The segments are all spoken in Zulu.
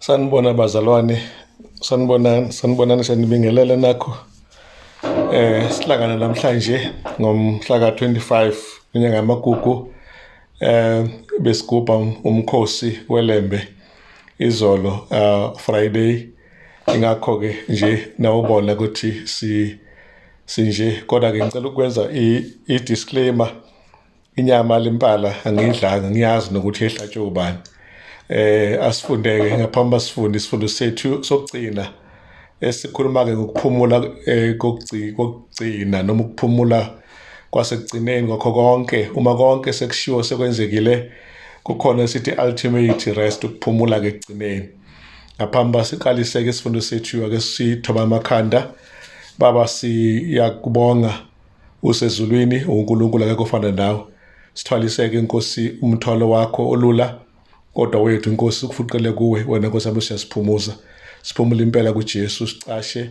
sanibona bazalwane sanibonani sanibonani senibingelele nakho eh sihlangana namhlanje ngomhla ka-25 inyanga yamagugu eh besigubha umkhosi welembe izolo uh, friday ingakho-ke nje nawubona ukuthi si sinje kodwa-ke ngicela ukwenza i-disclaimer inyama lempala angiyidlanga ngiyazi nokuthi yehlatshwe ubani eh asifundeke ngaphambi basifunde isifundo sethu sokugcina esikhuluma-ke ngokuphumula eh, kokugcina noma ukuphumula kwasekugcineni kwakho konke uma konke sekushiwo sekwenzekile kukhona esithi ultimate rest ukuphumula-ke ekugcineni ngaphambi uba siqaliseke isifundo sethu ake sithoba amakhanda baba siyakubonga usezulwini unkulunkulu akekho ofana nawe sithwaliseke inkosi umthwalo wakho olula kodwa wethu inkosi kufuqele kuwe wena nkosi yami siyasiphumuza siphumule impela kujesu sicashe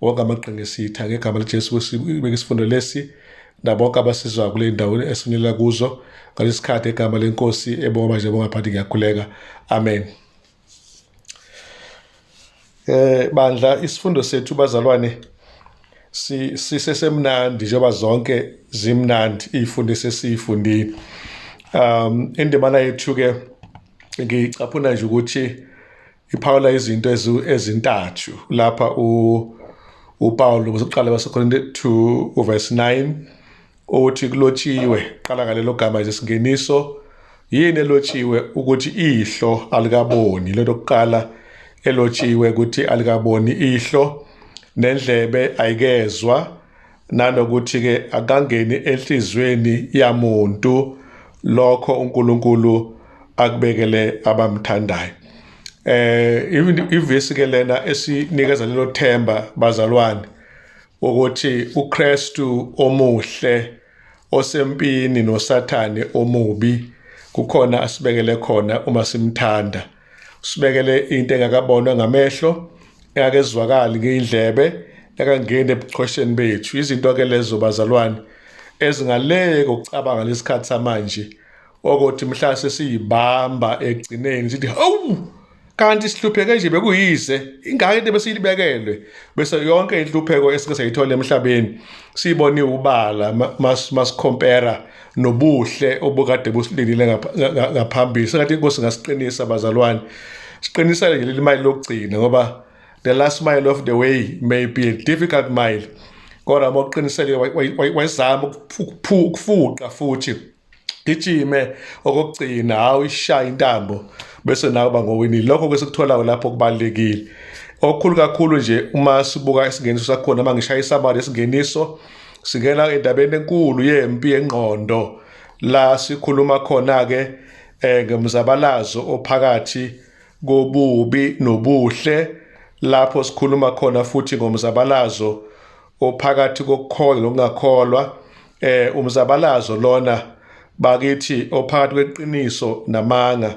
wonke amaqhinga esitha ngegama lijesu sibeke isifundo lesi nabonke abasizwa kule ndawo esifinyelela kuzo ngalesi khathi egama lenkosi ebonga manje bongaphathi ngiyakhuleka amen Eh bandla isifundo sethu bazalwane si sisesemnandi njengoba zonke zimnandi izifundo sesifundile. Um indimana yethu ke ngicaphuna nje ukuthi iphawula izinto ezintathu lapha u uPawulu uzoqala baseKorinte 2 uverse 9 Othi kulotshiwe qala ngalelo gama nje singeniso yini elotshiwe ukuthi ihlo alikaboni lento kuqala elotshiwe ukuthi alikaboni ihlo nendlebe ayikezwa nanokuthi ke akangeni enhlizweni yamuntu lokho uNkulunkulu akubekele abamthandayo eh even ivesi ke lena esinikeza lelo themba bazalwane ukuthi uKristu omuhle osempini noSathane omubi kukhona asibekele khona uma simthanda usibekele into engakabonwa ngamehlo engakezwakali ngeyindlebe ekangeni ebuchwesheni bethu izinto ke lezo bazalwane ezingaleke ukucabanga lesikhathi samanje okuthi mhlase siyibamba egcineni sithi hawu kanti sihlupheke nje bekuyise ingane into besilibekelwe bese yonke inhlupheko esike sayithola emhlabeni siyibone ubala masikhompera nobuhle obukade busilindile ngaphambili sengathi inkosi ngasiqinisa bazalwane siqinisa nje leli mile lokugcina ngoba the last mile of the way may be a difficult mile kodwa moqinisele wayizama ukufuqa futhi gijime okokugcina hawu ishaya intambo bese nawe uba ngowinile lokho ke sikutholayo lapho kubalulekile okukhulu kakhulu nje uma sibuka isingeniso sakhona uma ngishaya isabari isingeniso singena endabeni enkulu yempi yengqondo la sikhuluma khona-ke um ngemzabalazo ophakathi kobubi nobuhle lapho sikhuluma khona futhi ngomzabalazo ophakathi kokukholwa nokungakholwa eh umzabalazo lona bakithi ophakathi kweqiniso namanga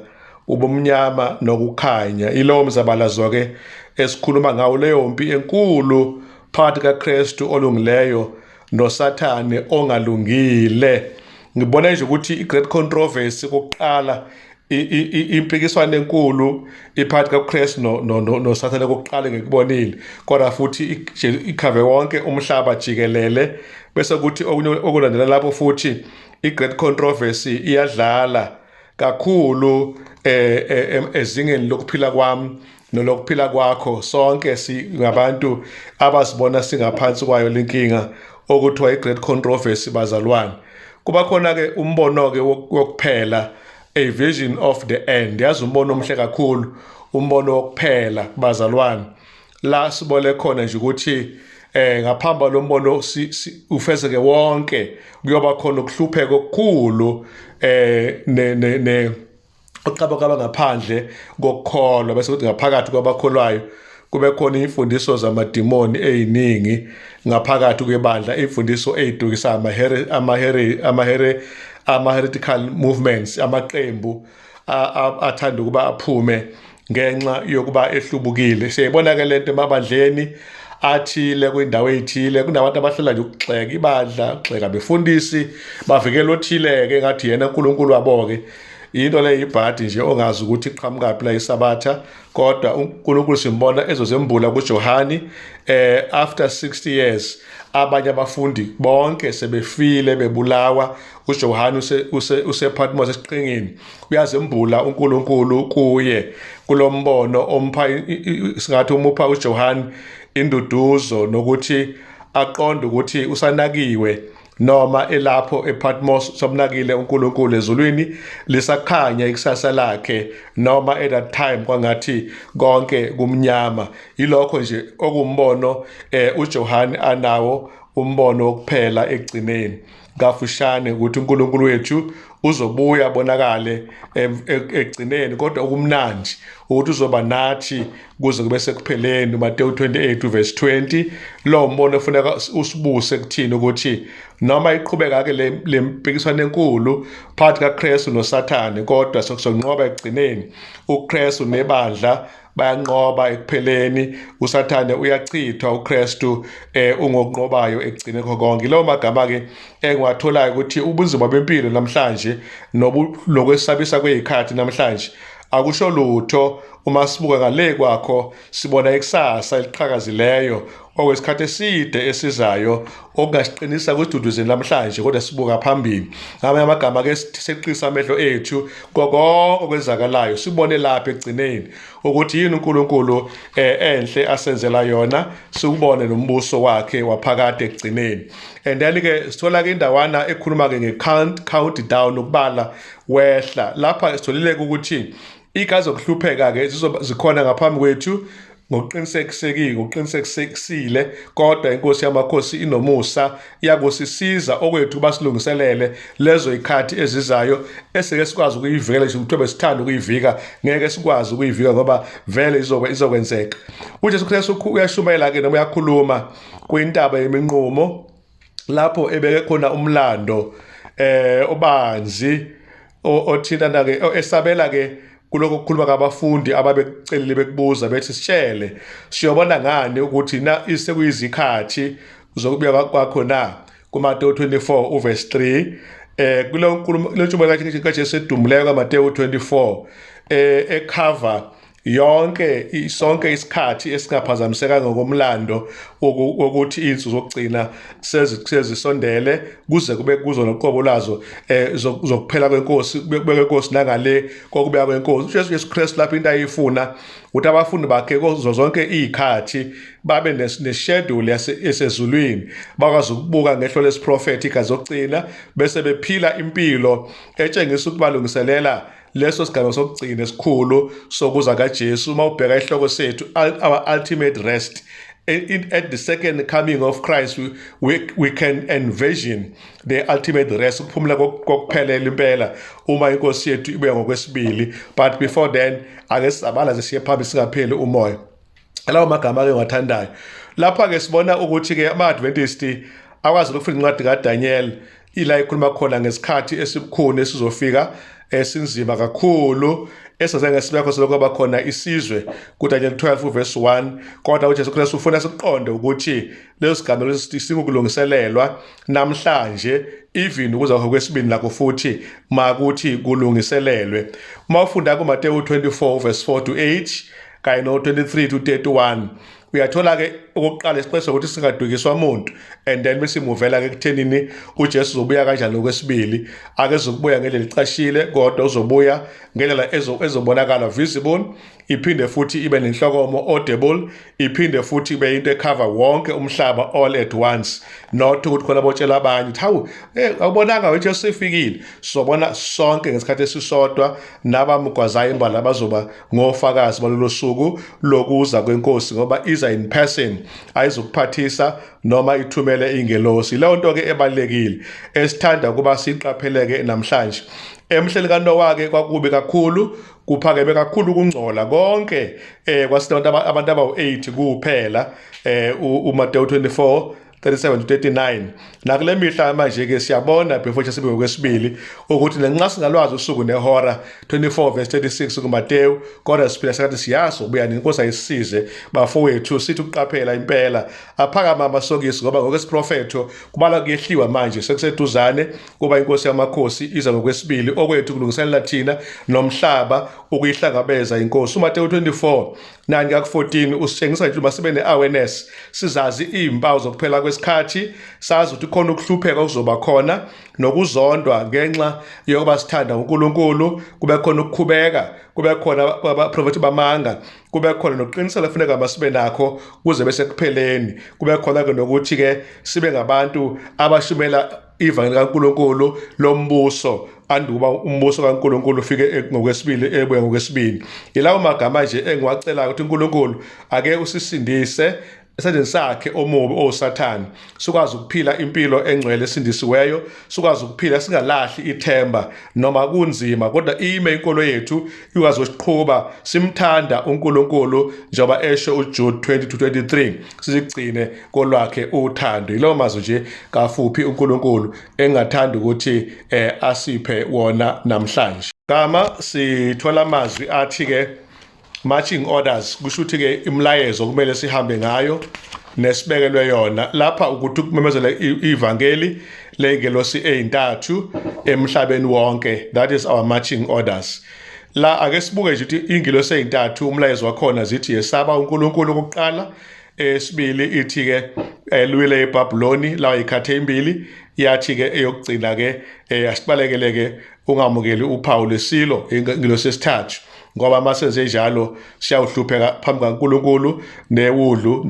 ubumnyama nokukhanya ilowo mzabalazo ke esikhuluma ngawo leyo mpi enkulu phakathi kaKristu olungileyo noSathane ongalungile ngibona nje ukuthi iGreat Controversy kokuqala impikiswano enkulu iphakathi kaKristu noSathane kokuqala ngikubonile kodwa futhi ikhave wonke umhlaba jikelele bese kuthi okunye okulandela lapho futhi i-great controversy iyadlala kakhulu eh, eh, eh, ezingeni lokuphila kwami nolokuphila kwakho sonke singabantu abasibona singaphansi kwayo lenkinga okuthiwa i-great controversy bazalwane kuba khona-ke umbono-ke wokuphela a vision of the end yazi umbono omhle kakhulu umbono wokuphela bazalwane la sibole khona nje ukuthi eh ngaphamba lombono ufezeke wonke kuyoba khona ukuhlupheka okukhulu eh ne ne uqaba kwaba ngaphandle kokukholwa bese kuthi ngaphakathi kwabakholwayo kube khona imfundiso zamadimoni eziningi ngaphakathi kwebandla imfundiso ezidukisa amahere amahere amahere ama-heretical movements amaqembu athanda ukuba aphume ngenxa yokuba ehlubukile siyayibona ke le nto emabandleni athile kwindawo eyithile kunabantu abahlala nje ukugxeka ibandla ukugxeka befundisi bavikela othile-ke ngathi yena unkulunkulu wabo-ke yinto leyo yibhadi nje ongazi ukuthi iqhamukaphi la isabatha kodwa unkulunkulu simbona ezozembula kujohani eh after 60 years abanye abafundi bonke sebefile bebulawa uJohane usePhatmos esiqhingini uyazembula uNkulunkulu kuye kulombono ompha singathi umupha uJohane induduzo nokuthi aqonde ukuthi usanakiwe noma elapho ePatmos somnakile uNkulunkulu ezulwini lisakhanya ikusasa lakhe noma at that time kwangathi konke kumnyama yilokho nje okumbono eh uJohane anawo umbono wokuphela ekugcineni kafushane ukuthi uNkulunkulu wethu uzobuya bonakale ekugcineni kodwa okumnandi ukuthi uzoba nathi kuze kube sekupheleni uMateyu 28 verse 20 lo mbono ufuneka usibuse kuthini ukuthi noma iqhubeka ke le mpikiswano enkulu phakathi kaKristu noSathane kodwa sokusonqoba ekugcineni uKristu nebandla bayanqoba ekupheleni usathane uyachithwa uKristu eh ungokunqobayo ekugcine konke lawo magama ke engiwatholayo ukuthi ubunzima bempilo namhlanje nokwesabisa kwezikhathi namhlanje akusho lutho uma sibuka ngale kwakho sibona ikusasa eliqhakazileyo okwesikhathi eside esizayo okungasiqinisa kududuzini namhlanje kodwa sibuka phambili ngamanye amagama ke seqisa amehlo ethu koko okwenzakalayo sibone lapha ekugcineni ukuthi yini uNkulunkulu eh, enhle asenzela yona siwubone nombuso wakhe waphakade ekugcineni and then ke sithola ke indawana ekhuluma ke nge count countdown ukubala wehla lapha sitholile ukuthi Ika zokuhlupheka-ke zizoba zikhona ngaphambi kwethu ngokuqinisekisekile ngokuqinisekisile kodwa inkosi yamakhosi inomusa iyakusisiza okwethu basilungiselele lezo ikhathi ezizayo esike sikwazi ukuyivikela nje ukuthi besithanda ukuyivika ngeke sikwazi ukuyivika ngoba vele izokwe izokwenzeka uJesu Kristu uyashumayela ke noma uyakhuluma kwintaba yeminqumo lapho ebeke khona umlando eh obanzi othina na ke esabela ke kuloko kukhuluma kabafundi ababecelile bekubuza bethi sitshele siyobona ngani ukuthi na isekuyizikhathi zokubuya kwakho na kuma 24 uverse 3 eh kulo nkulumo lentshumayelo kaJesu edumuleko kaMateyu 24 eh ekhava yonke sonke isikhathi esingaphazamiseka ngokomlando wokuthi izinsuku zokugcina sezisondele kuze kube kuzo noqobo lazo eh, zokuphela kwenkosi kubekwe inkosi nangale kokubeya kwenkosi uJesu Jesu Kristu lapho into ayifuna ukuthi abafundi bakhe kuzo zonke izikhathi babe neschedule yasezulwini bakwazi ukubuka ngehlo lesiprofethi igazi zokugcina bese bephila impilo etshengisa ukubalungiselela leso sigaba sokugcina esikhulu sokuza kaJesu uma ubheka isihloko sethu our ultimate rest at the second coming of Christ we, we, we can envision the ultimate rest ukuphumula kokuphelela impela uma inkosi yethu ibuya ngokwesibili but before then ake sizabala zisiye phambi singapheli umoya lawo magama ke ngiwathandayo lapha ke sibona ukuthi ke ama-adventist akwazi ukufunda incwadi kadaniel ila ikhuluma khona ngesikhathi esibukhuni esizofika esinzima eh, kakhulu eseze ngesibekho selokuba khona isizwe kuDaniel 12 verse 1 kodwa uJesu Kristu ufuna siqonde ukuthi leso sigameko singukulungiselelwa namhlanje even ukuza kwesibini lakho futhi makuthi kulungiselelwe uma ufunda kuMateyu 24 verse 4 to 8 kanye no-23 to 31 uyathola-ke okokuqala isiqeso ukuthi singadukiswa muntu and then besimuvela-ke ekuthenini ujesu uzobuya kanjani okwesibili akezokubuya ngendlela icashile kodwa uzobuya ngendlela ezobonakala visible iphinde futhi ibe nenhlokomo audible iphinde futhi ibe into ekhava wonke umhlaba all at once not ukuthi khona botshela abanye ukuthi hawu eh, awubonanga wethu esifikile sobona sonke ngesikhathi esisodwa nabamgwazayo imbala bazoba ngofakazi balolo suku lokuza kwenkosi ngoba iza in person ayizokuphathisa noma ithumele ingelosi leyo nto ke ebalekile esithanda ukuba siqapheleke namhlanje emhleli kanowa ke kwakubi kakhulu kuphakeme kakhulu ukungcola konke eh kwasinabantu abantu abawu-8 kuphela eh uMateyu 24 37-39 nakule mihla manje-ke siyabona before sibe ngokwesibili ukuthi nanxa singalwazi usuku nehora 24 verse 36 kumatewu kodwa siphila sakathi siyazi ubuya nenkosi ayisize bafowethu sithi ukuqaphela impela aphakama amasokisi ngoba ngokwesiprofetho kubala kuyehliwa manje sekuseduzane kuba inkosi yamakhosi iza ngokwesibili okwethu kulungiselela thina nomhlaba ukuyihlangabeza inkosi umatewu 24 Nani kaku-14 usitshengisa ukuthi uma sibe ne-awareness sizazi iy'mpawu zokuphela kwesikhathi sazi ukuthi khona ukuhlupheka okuzoba khona nokuzondwa ngenxa yokuba sithanda uNkulunkulu kube khona ukukhubeka kube khona abaprofethi bamanga kube khona nokuqinisela kufuneka masibe nakho kuze bese kupheleni kube khona-ke nokuthi-ke sibe ngabantu abashumela ivangeli kaNkulunkulu lombuso anduba umbuso kaNkulunkulu ufike e-, ngokwesibili ebuya ngokwesibili yilawo magama nje engiwacelayo ukuthi uNkulunkulu ake usisindise esandleni sakhe omubi owusathane sikwazi ukuphila impilo engcwele esindisiweyo sikwazi ukuphila singalahli ithemba noma kunzima kodwa ime inkolo yethu ikwazi ukuqhuba simthanda uNkulunkulu njengoba esho uJude 2023 sigcine kolwakhe uthando yilowo mazwi nje kafuphi uNkulunkulu engathanda ukuthi eh, asiphe wona namhlanje gama sithola amazwi athi ke marching orders kusho ukuthi ke imlayezo kumele sihambe ngayo nesibekelwe yona lapha ukuthi ukumemezela ivangeli lengelosi ezintathu emhlabeni wonke that is our marching orders la ake sibuke nje ukuthi ingilo seyintathu umlayezo wakhona zithi yesaba uNkulunkulu ukuqala esibili ithi ke elwile eBabyloni lawa ikhathe imbili yathi ke eyokugcina ke eh, asibalekele ke ungamukeli uphawu lesilo ingilo sesithathu ngoba uma senze njalo siyawuhlupheka phambi kaNkulunkulu newudlu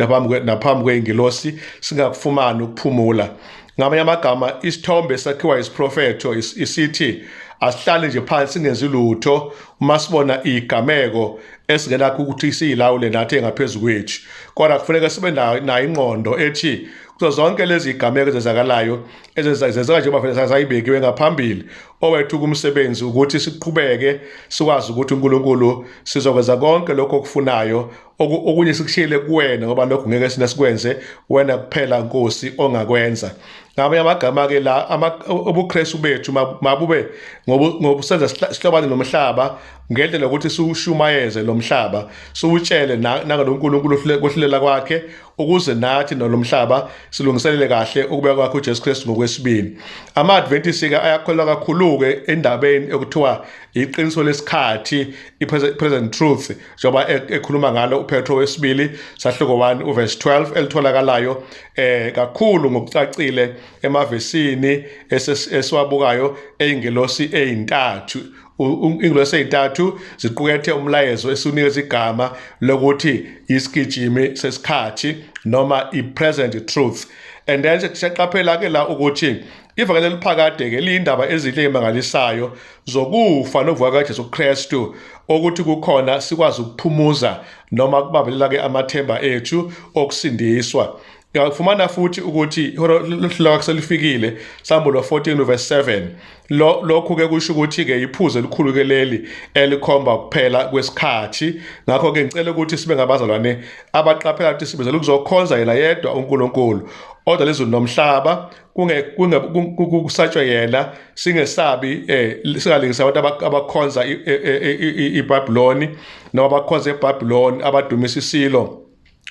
naphambi kwey'ngilosi singakufumani ukuphumula Ngamanye amagama isithombe esakhiwa isiprofetho isithi asihlale nje phansi singenzi lutho uma sibona igameko esingenakho ukuthi siyilawule nathi engaphezulu kwethu kodwa kufuneka sibe nayo ingqondo ethi kuzo zonke lezi gameko ezenzakalayo ezenzeka njengoba vele sayibekiwe ngaphambili owethu kumsebenzi ukuthi siqhubeke sikwazi ukuthi uNkulunkulu sizokwenza konke lokho okufunayo okunye sikushiyele kuwena ngoba lokho ngeke sina sikwenze wena kuphela nkosi ongakwenza ngamanye amagama-ke la ubukristu bethu mabube ngobusenza sihlobane nomhlaba ngendlela yokuthi siwushumayeze lo mhlaba siwutshele nangalo nkulunkulu kohlulela kwakhe ukuze nathi nalo mhlaba silungiselele kahle ukubuya kwakhe ujesu kristu ngokwesibili ama-adventisi-ke ayakholwa kakhulu-ke endabeni ekuthiwa iqiniso lesikhathi i-present truth njengoba e, ekhuluma ngalo uPetro wesibili sahluko 1 uverse 12 elitholakalayo eh kakhulu ngokucacile emavesini esiwabukayo eingelosi eintathu ingilosi ezintathu ziqukethe umlayezo esiwunikeza igama lokuthi isigijimi sesikhathi noma i-present truth and then siyaqaphela ke la ukuthi Ivangeli eliphakade-ke liyindaba ezinhle emangalisayo zokufa nokuvuka kaJesu Kristu okuthi kukhona sikwazi ukuphumuza noma kubambelela-ke amathemba ethu okusindiswa uyafumana futhi ukuthi ihora lakho selifikile sambo lo 14 verse 7 lo lokhu ke kusho ukuthi ke iphuze elikhulu ke leli elikhomba ukuphela kwesikhathi ngakho ke ngicela ukuthi sibe ngabazalwane abaqaphela ukuthi sibizela ukuzokhonza yena yedwa uNkulunkulu odwa lezulu nomhlaba kusatshwe yena singesabi eh singalingisa abantu abakhonza iBabyloni noma abakhonza eBabyloni abadumisa isilo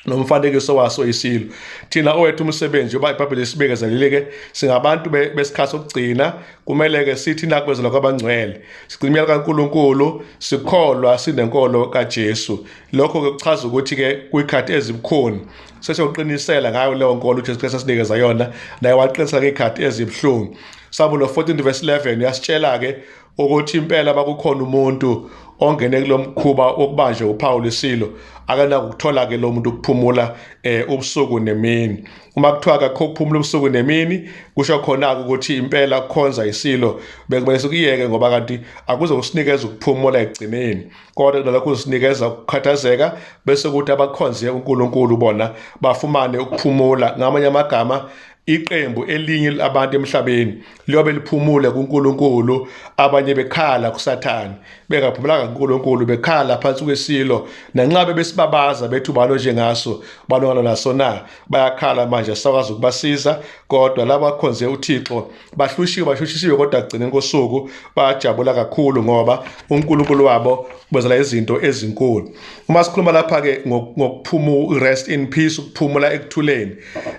nomfanekiso waso isilo thina owethu umsebenzi yoba ibhayibheli isibekezelile-ke singabantu besikhathi sokugcina kumele-ke sithi nakwezela kwabangcwele sigcimela kankulunkulu sikholwa sinenkolo kajesu lokho-ke kuchaza ukuthi-ke kwikhathi ezibukhuni sesiyawuqinisela ngayo leyo nkolo uJesu Kristu asinikeza yona naye waqinisela ngey'khathi ezibuhlungu sabulo 14 verse 11 uyasitshela-ke ukuthi impela bakukhona umuntu ongene kulo mkhuba wokubanjwe uPawulu isilo akanakukuthola-ke lo muntu ukuphumula um ubusuku nemini uma kuthiwa kakho ukuphumula ubusuku nemini kusho khona-ke ukuthi impela kukhonza isilo bekumele sikuyeke ngoba kanti akuze kusinikeza ukuphumula ekugcineni kodwa kunalokho usinikeza ukukhathazeka bese kuthi abakhonze uNkulunkulu bona bafumane ukuphumula ngamanye amagama iqembu elinye labantu emhlabeni liyobe liphumule kuNkulunkulu abanye bekhala kuSathane bengaphumulanga kuNkulunkulu bekhala phansi kwesilo nanxabe besibabaza bethu balo njengaso balongana naso na bayakhala manje sakwazi ukubasiza kodwa laba khonze uThixo bahlushiwe bahlushisiwe kodwa kugcine kosuku bajabula kakhulu ngoba uNkulunkulu wabo ubenzela izinto ezinkulu uma sikhuluma lapha ke ngokuphuma rest in peace ukuphumula ekuthuleni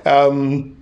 um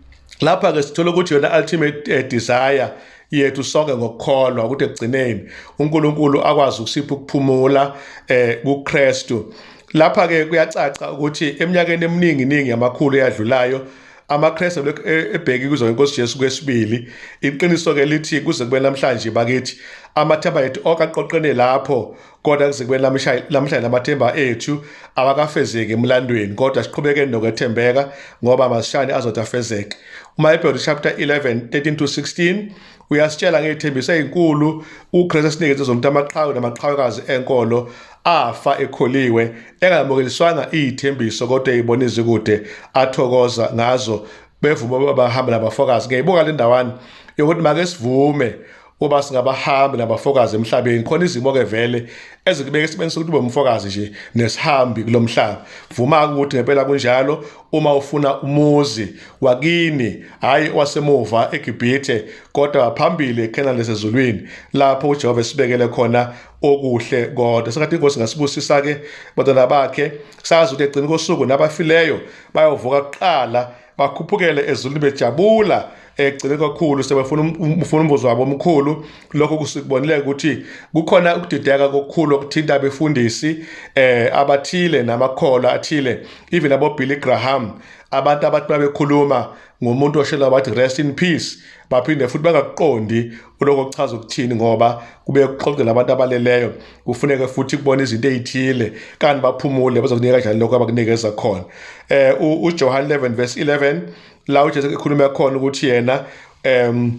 lapha ke sithola ukuthi yona ultimate eh, desire yethu sonke ngokukholwa ukuthi ekugcineni uNkulunkulu akwazi ukusipha ukuphumula eh kuKristu lapha ke kuyacaca ukuthi eminyakeni eminingi ningi yamakhulu eyadlulayo amaKristu lokhu e, ebheki kuzo ngenkosi Jesu kwesibili iqiniso ke lithi kuze kube namhlanje bakithi amathemba ethu onke aqoqene lapho kodwa kuze kube namhlanje amathemba ethu awakafezeki emlandweni kodwa siqhubeke nokwethembeka ngoba masishane azotafezeke uma eBhayibheli chapter 11 13 to 16 uyasitshela ngethembiso ezinkulu uKristu esinikeze zonke amaqhawe namaqhawekazi enkolo afa ekholiwe engamukeliswanga izithembiso kodwa eyibona izikude athokoza ngazo bevuma babahamba nabafokazi ngiyayibonga le ndawani yokuthi make sivume uba singabahambi nabafokazi emhlabeni khona izimo ke vele ezikubeka esimeni sokuthi ube umfokazi nje nesihambi kulomhlaba vuma ukuthi ngempela kunjalo uma ufuna umuzi wakini hhayi wasemuva egibhithe kodwa phambili ekhenani lesezulwini lapho ujehova esibekele khona okuhle kodwa sengathi inkosi ngasibusisa-ke bantwana bakhe sazi ukuthi egcini kosuku nabafileyo bayovuka kuqala bakhuphukele ezulwini bejabula egcine kakhulu sebefuna um, um, ufuna umvuzo wabo omkhulu lokho kusikubonile ukuthi kukhona ukudideka kokukhulu okuthinta abefundisi eh abathile namakhola athile even abo Billy Graham abantu abathi babekhuluma ngomuntu oshela bathi rest in peace baphinde futhi bangakuqondi uloko kuchaza ukuthini ngoba kube kuxoxela abantu abaleleyo kufuneke futhi kubona izinto ezithile kanti baphumule bazokunika kanjani lokho abakunikeza khona eh uJohn 11 verse 11 la uJesu ekhuluma khona ukuthi yena em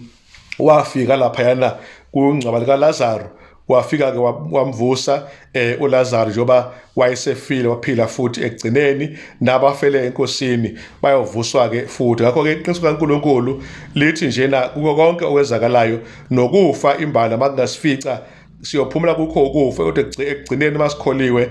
wafika lapha yana kungcwaba lika Lazaro wafika ke wamvusa eh uLazaro njoba wayesefile waphila futhi ekugcineni nabafele enkosini bayovuswa ke futhi ngakho ke iqiniso kaNkuluNkulu lithi njena kuko konke okwezakalayo nokufa imbala makungasifica siyophumula kukho ukufa kodwa ekugcineni uma sikholiwe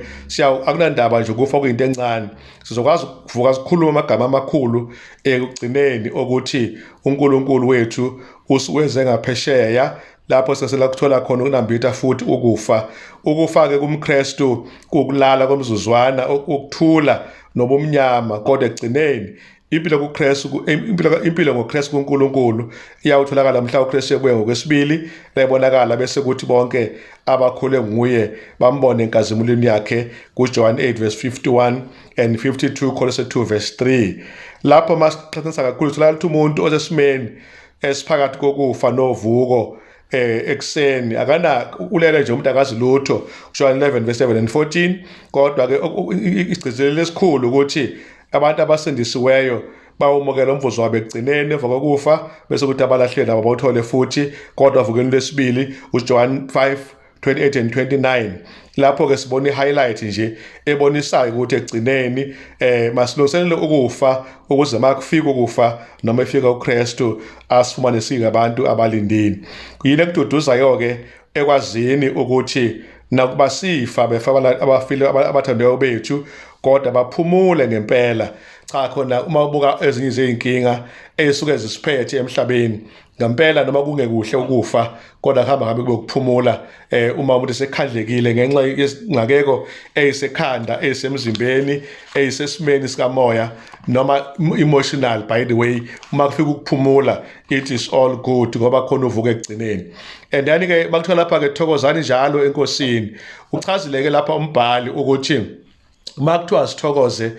akunandaba nje ukufa kuyinto encane sizokwazi ukuvuka sikhulume amagama amakhulu ekugcineni okuthi unkulunkulu wethu usiwenze ngaphesheya lapho sesela kuthola khona ukunambitha futhi ukufa ukufake kumkrestu kukulala komzuzwana ukuthula nobumnyama kodwa ekugcineni Impilo kuKristu impilo impilo ngoKristu kuNkulunkulu iyawutholakala mhla uKristu ebuya ngokwesibili nayibonakala bese kuthi bonke abakhule nguye bambone enkazimulweni yakhe kuJohn 8 verse 51 and 52 Kolose 2 verse 3 lapho masiqhathanisa kakhulu sithola ukuthi umuntu osesimeni esiphakathi kokufa novuko eh ekseni akana ulele nje umuntu akazi lutho John 11 verse 7 and 14 kodwa ke isigcizelelo esikhulu ukuthi Abantu abasindisiweyo bawumukela umvuzo wabo ekugcineni emva kokufa bese kuthi abalahleli labo bawuthole futhi kodwa vukeni lwesibili uJohn 5 28 and 29 lapho ke sibona i-highlight nje ebonisayo ukuthi ekugcineni eh masilungiselele ukufa ukuze makufika ukufa noma efika uKristu asifumane singabantu abalindile yini ekududuzayo ke ekwazini ukuthi nakuba sifa befa abafile abathandayo bethu kodwa baphumule ngempela cha khona uma ubuka ezinye izinkinga ezisuke zisiphethe emhlabeni ngempela noma kungekuhle ukufa kodwa kuhamba ngabe kuphumula eh uma umuntu sekhandlekile ngenxa yesingakeko eyisekhanda eyisemzimbeni eyisesimeni sikamoya noma emotional by the way uma kufika ukuphumula it is all good ngoba khona uvuka ekugcineni and then ke bakuthiwa lapha ke thokozani njalo enkosini uchazileke lapha umbhali ukuthi uma kuthiwa sithokoze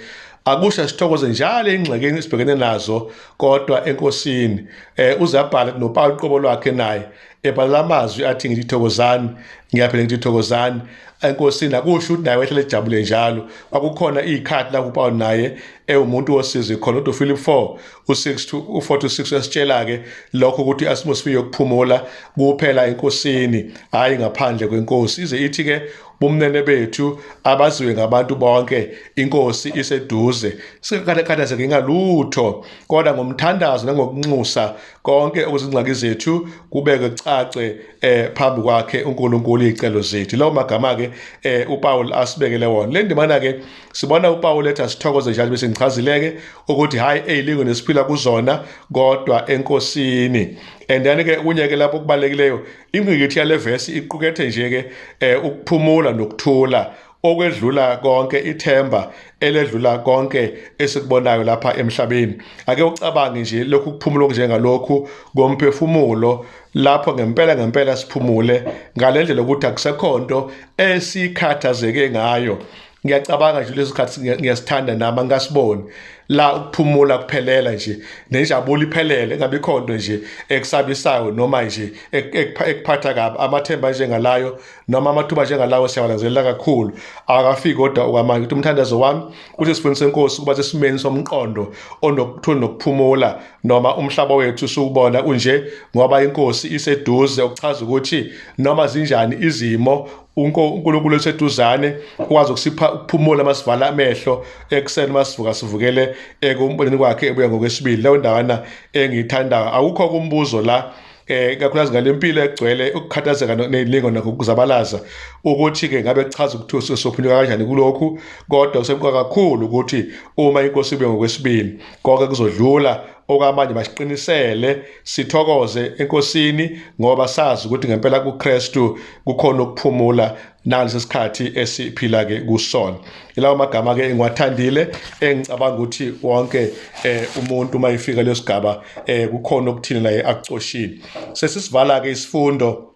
akusho sithokoze njalo ingxekeni esibhekene nazo kodwa enkosini um eh, uzabhala nopawulu uqobo lwakhe naye ebhala amazwi athi ngithi thokozani ngiyaphela ngithi thokozani enkosini akusho ukuthi naye wehlele ejabule njalo kwakukhona iy'khathi lapho upawulu naye ewumuntu wosizi khona udophilip four u-6 u-46 uyasitshela-ke lokho ukuthi i-atmosphere yokuphumula kuphela enkosini hhayi ngaphandle kwenkosi ize ithi-ke bumnene bethu abaziwe ngabantu bonke inkosi iseduze singakhathazeki ngalutho kodwa ngomthandazo nangokunxusa konke okuzingxaki zethu kubeke kucace eh phambi kwakhe uNkulunkulu izicelo zethu lawo magama ke eh uPaul asibekele wona le ndimana ke sibona uPaul ethi asithokoze njalo bese ngichazileke ukuthi hayi eyilingo nesiphila kuzona kodwa enkosini and then ke kunye ke lapho kubalulekileyo ingqikithi yale vesi iqukethe nje ke eh, ukuphumula nokuthula okwedlula konke ithemba eledlula konke esikubonayo lapha emhlabeni ake ucabange nje lokhu kuphumula okunjengalokhu komphefumulo lapho ngempela ngempela siphumule ngalendlela ukuthi akusekhonto esikhathazeke ngayo ngiyacabanga nje leso sikhathi ngiyasithanda nami angasiboni la ukuphumula kuphelela nje nenjabulo iphelele ngabe ikhonto nje ekusabisayo noma nje ekuphatha kabi amathemba njengalayo noma amathuba njengalawo siyawalanzelela kakhulu akafiki kodwa okwamanje ukuthi umthandazo wami uthi sifundise inkosi ukuba sesimeni somqondo onokuthula nokuphumula noma umhlaba wethu siwubona unje ngoba inkosi iseduze okuchaza ukuthi noma zinjani izimo uNkulunkulu oseduzane ukwazi ukusipha ukuphumula masivala amehlo ekuseni masivuka sivukele ekumboneni kwakhe ebuya ngokwesibili leyo ndawana engiyithandayo awukho kumbuzo la eh kakhulukazi ngalempilo egcwele ukukhathazeka nezilingo nokuzabalaza ukuthi ke ngabe kuchaza ukuthi usophunyuka kanjani kulokhu kodwa kusemqoka kakhulu ukuthi uma inkosi ibe ngokwesibili konke kuzodlula okwamanje basiqinisele sithokoze enkosini ngoba sazi ukuthi ngempela kuKristu kukhona ukuphumula nalesi sikhathi esiphila ke kusona ilawo magama ke engiwathandile engicabanga ukuthi wonke eh, umuntu uma efika lesigaba eh, kukhona okuthini naye akucoshile sesisivala ke isifundo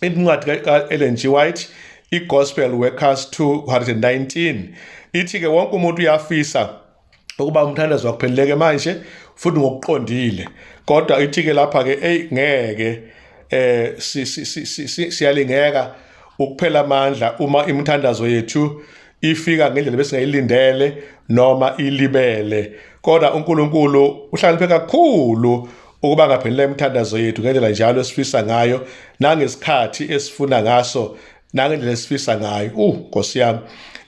incwadi ka Ellen G White iGospel Workers 219 ithi ke wonke umuntu uyafisa ukuba umthandazo wakupheleleke manje futhi ngokuqondile kodwa ithike lapha ke ey ngeke eh siyalingeka ukuphela amandla uma imithandazo yethu ifika ngendlela besingayilindele noma ilibele kodwa uNkulunkulu uhlaniphe kakhulu ukuba ngaphelele imithandazo yethu ngendlela njalo esifisa ngayo nangesikhathi esifuna ngaso nangendlela esifisa ngayo uh nkosi yami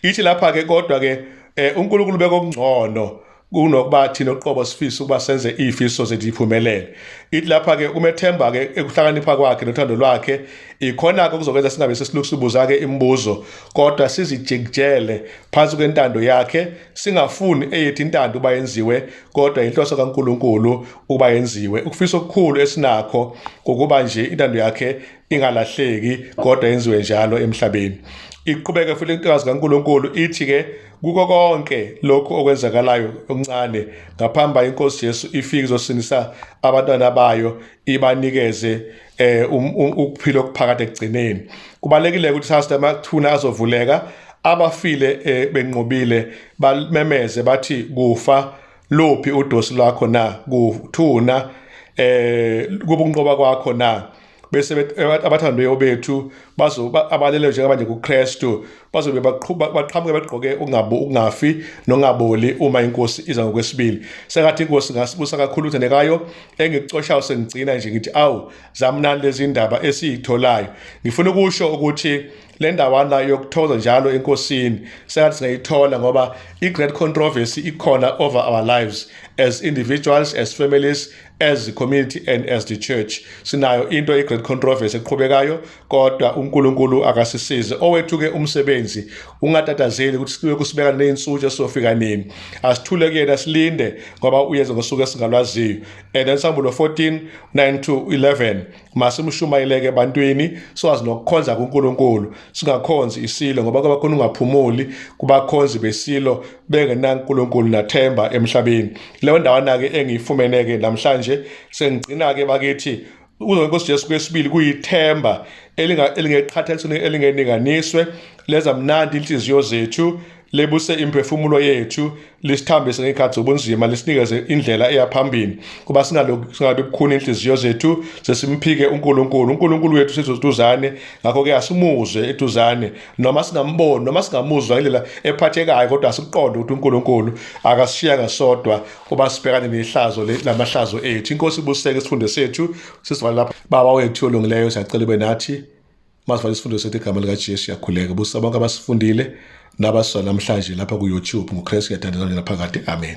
ithi lapha ke kodwa ke eh, uNkulunkulu bekokungcono kunokuba thina uqobo sifisa ukuba senze ifiso zethu iphumelele ithi lapha ke umethemba ke ekuhlakanipha kwakhe nothando lwakhe ikhona ke kuzokwenza singabe sesilukusibuza ke imibuzo kodwa sizijikjele phansi kwentando yakhe singafuni eyethi intando uba yenziwe kodwa inhloso kaNkuluNkulu uba yenziwe ukufisa okukhulu esinakho ukuba nje intando yakhe ingalahleki kodwa yenziwe njalo emhlabeni iqhubeke futhi intokazi kaNkuluNkulu ithi ke kuko konke lokho okwenzakalayo okuncane ngaphamba inkosi Jesu ifike izosindisa abantwana bayo ibanikeze eh um, um, ukuphila okuphakade ekugcineni kubalekile ukuthi sasithe amathuna azovuleka abafile eh, benqobile bamemeze bathi kufa lophi udosi lwakho na kuthuna eh kubunqoba kwakho na bese abathandiweyo bethu abaleleyo njengoba nje kuKristu bazobe baqhuba baqhamuke begqoke ungabo ungafi nongaboli uma inkosi iza ngokwesibili sengathi inkosi ngasibusa kakhulu uthandekayo engikucoshayo sengigcina nje ngithi awu zamnani lezi ndaba esiyitholayo ngifuna ukusho ukuthi le ndawana yokuthokoza njalo enkosini sengathi singayithola ngoba i-great controversy ikhona over our lives as individuals as families as a community and as the church sinayo into i great controversy eqhubekayo kodwa uNkulunkulu akasisize owethu ke umsebenzi ungatatazeli ukuthi sibe kusibeka nezinsuku esofika nini asithule kuyena silinde ngoba uyenza ngosuku esingalwaziyo and ensambulo 14 9 to 11 masimshumayeleke ebantwini siwazi nokukhonza kuNkulunkulu singakhonzi isilo ngoba kwabakhona ungaphumuli kubakhonzi besilo bengenankulunkulu nathemba emhlabeni leyo ndawana-ke engiyifumene-ke namhlanje sengigcina-ke bakithi kuzo nkosi Jesu kwesibili kuyithemba elingeqhathanisweni elingeninganiswe leza mnandi inhliziyo zethu lebuse imphefumulo yethu lisithambise ngekhathi zobunzima lisinikeze indlela eya phambili kuba singabe kukhuni inhliziyo zethu sesimphike uNkulunkulu uNkulunkulu wethu sizoduzane ngakho ke asimuzwe eduzane noma singamboni noma singamuzwa ngendlela ephathekayo kodwa sikuqonde ukuthi uNkulunkulu akasishiyanga sodwa uba sibhekane nehlazo lamahlazo ethu inkosi ibuseke isifundo sethu sisivale lapha baba wethu olungileyo siyacela ube nathi masivale isifundo sethu igama likaJesu siyakhuleka busa bonke abasifundile nabasizwa namhlanje lapha ku-YouTube nguKristu yathandazana naphakade amen